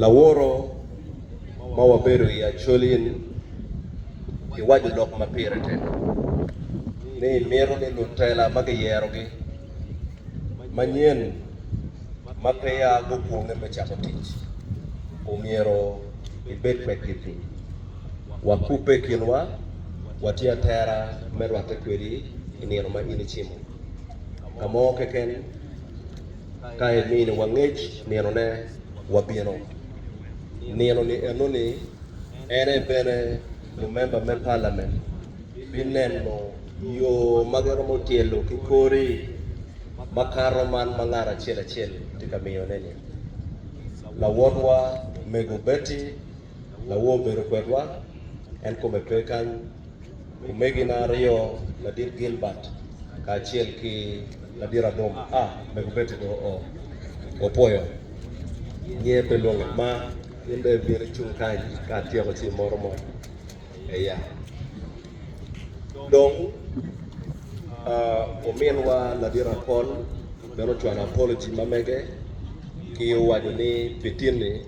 Laworo ma wabedo i acol in, iwaco lok ma pire tek ni imito ni lutela ma giyerogi manyen ma peya gukwonge me cako tic omyero ibed kwedgi piny. Wakubbe i kinwa, watye atera me rwatte kwedi i nino ma in icimo. Ka mo keken, ka emini wa ngec nino ne wa bino. Nino ni eno ni en aye bene lumemba me palament bi neno yo ma gi romo tyelo ki kori ma kato man ma ngat acel acel tye ka miyo ne ni. Lawotwa mego Betty. Lawo obedo kwedwa, en kome pe kany. Omegina aryo, Ladit Gilbert kacel ki Ladit Adom, a mego Betty do oo. Opwoyo nyer pe lwonge ma in dong ibino icung kany ka atyeko ci imoto mot. aye. Dong, ominwa ladit Apol bene ocwalo apology ma mege ki owaco ni, Pitinni,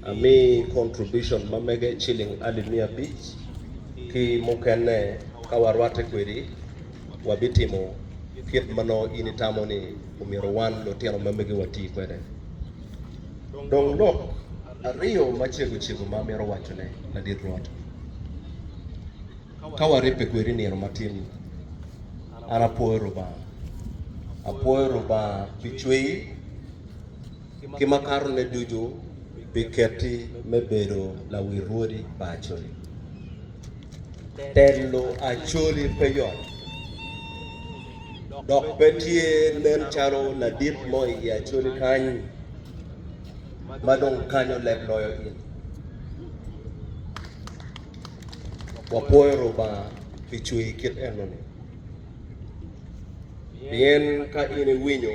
amiyi contribution ma mege ciling alip miya abic, ki mukene ka warwatte kwedi, wabitimo kit ma nongo in itamo ni omyero wan lutino ma megi wati kwede. Dong lok. Aryo macego cego ma amito wacone, Ladit Rwot, ka waribbe kwedi nino matin-ni, an apwoyo Rubanga. Apwoyo Rubanga pi cweri ki makatone ducu, pi ketti me bedo lawil rwodi pa Acholi. Telo Acholi pe yot, dok pe tye nen calo ladit mo i Acholi kany. ma dong kanyo leb loyo in. Wapwoyo Rubanga pi cwer kit enoni, pien ka in iwinyo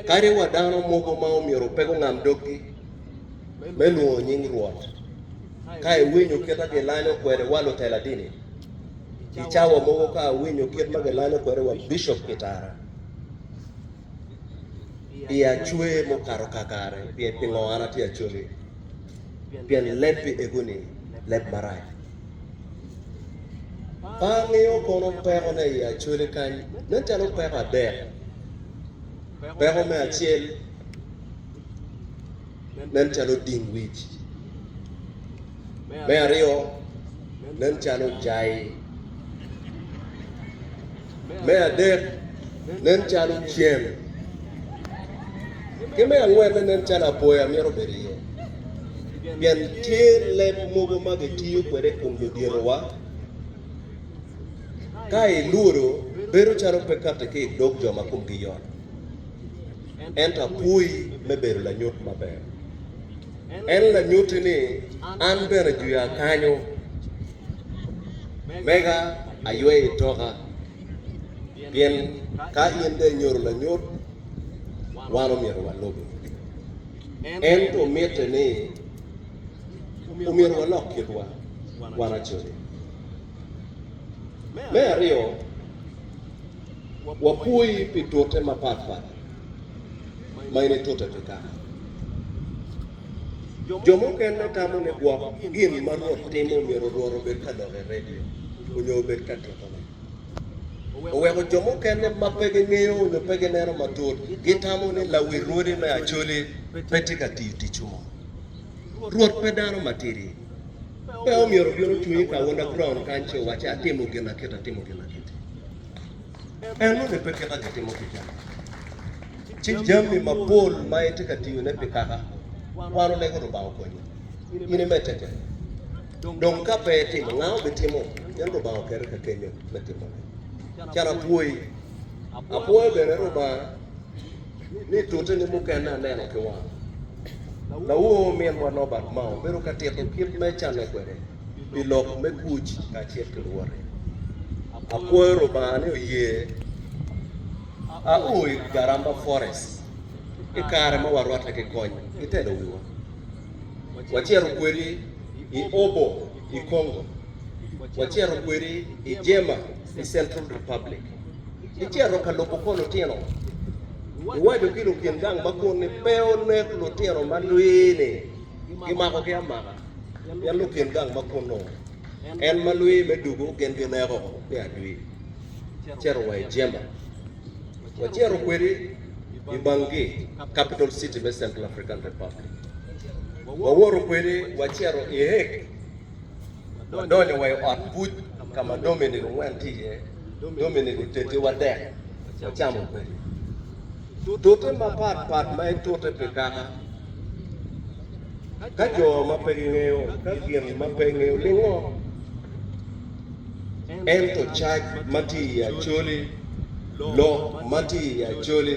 kadi wa dano mogo ma omyero pe gungam doggi me lwongo nying Rwot, ka iwinyo kit ma gilanyo kwede wa lutela dini, i cawa mogo ka awinyo kit ma gilanyo kwede wa bicop pi tara, I acwer mukato kakare, pien pingo an atye acoki? Pien leb pi ego-ni leb marac. Pe angeyo kono pekone i acwele kany, nen calo peko adek. Peko me acel nen calo ding wic, me aryo nen calo jai. Me adek, nen calo cen. Ki me angwenne, nen calo apoya myero obed iye. Pien tye leb mogo ma gitiyo kwede i kom luditowa. Ka ilwodo, bedo calo pe katti ki i dog jo ma komgi yot. Ento apwoyi me bedo lanyut maber. En lanyutti ni, An bene juya kanyo. Mega aywe i toka, pien ka in dong inyuto lanyut, wan omyero walubi. Ento mitte ni omyero walok kitwa wan acoli. Me aryo, wapwoyi pi tute mapatpat ma in itute pi kaka. Jo mukene tamo ni gwok gin ma Rwot timo myero orwot obed ka lok i redio onyo obed ka titone. Oweko jo mukene ma pe gingeyo onyo pe gineno matut gitamo ni lawi rwodi me Acholi pe tye ka tiyo tic mo. Rwot pe dano matidi. Pe omyero obino cunyi ka Wonda Brown kany ci owacci atimo gin akiti atimo gin akiti. En nonge pe kit ma gitimo kica. Ci jami mapol ma itye ka tiyone pi kaka wan olego Lubanga okonyi in imedde-ke. Dong ka pe itimo, nga obitimo? Pien Lubanga okeri ka kenyo me timone. Can apwoyi. Apwoyo bene Lubanga. ni tute ni mukene aneno ki wanga. Lawoo minwa Norbert Mao bedo ka tito kit me canne kwede pi lok me kuc kacel ki luwote. Apwoyo Lubanga ni oye a o i Garamba Forest i kare ma warwatte ki kony ki telo wiwa. Wacito kwedi i Obo i Congo. Wacito kwedi i Jema i Central Republic. Icito ka lubo kor lutino, iwaco ki lukin gang ma kun ni pe onek lutino ma lwii-ni, gimakogi amaka, pien lukin gang ma kun-nu, en ma lwii me dugo gin gineko me adwi. Icito wa i jemba, wacito kwedi i Bangui, capital city me Central African Republic. Wawoto kwedi wacito i Hague, wadonyo wa i ot buc ka ma Dominic ongwen tye iye, dong myero gutedde wadek wacamo kwede. Tute mapat pat ma etute pi kaka ka jo ma pe gingeyo ka gin ma pe ngeyo ningo. Ento cac ma tye i Acholi, lok ma tye i Acholi,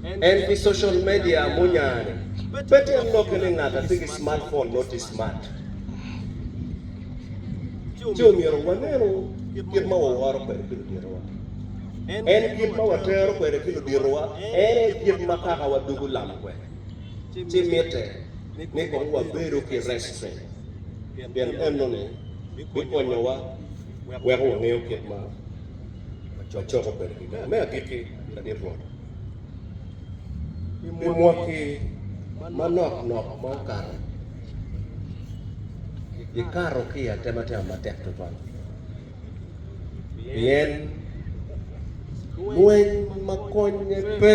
en pi social media munya-ni, pe tyen lokke ni ngat atye ki smartphone noti smart. ci omyero wanenu kit ma waworo kwede ki luditowa. En kit ma watero kwede ki luditowa en aye kit ma Kakawa dugo lam kwede. Ci mitte ni kong wabedo ki restraint, pien enoni bikonyowa weko wangeyo kit ma wacoko kwede ginen. Me agikki, Ladit Rwot, pi mwaki manok nok ma okato, Gikato ki i atematema matek tutwal pien lweny ma konnye pe.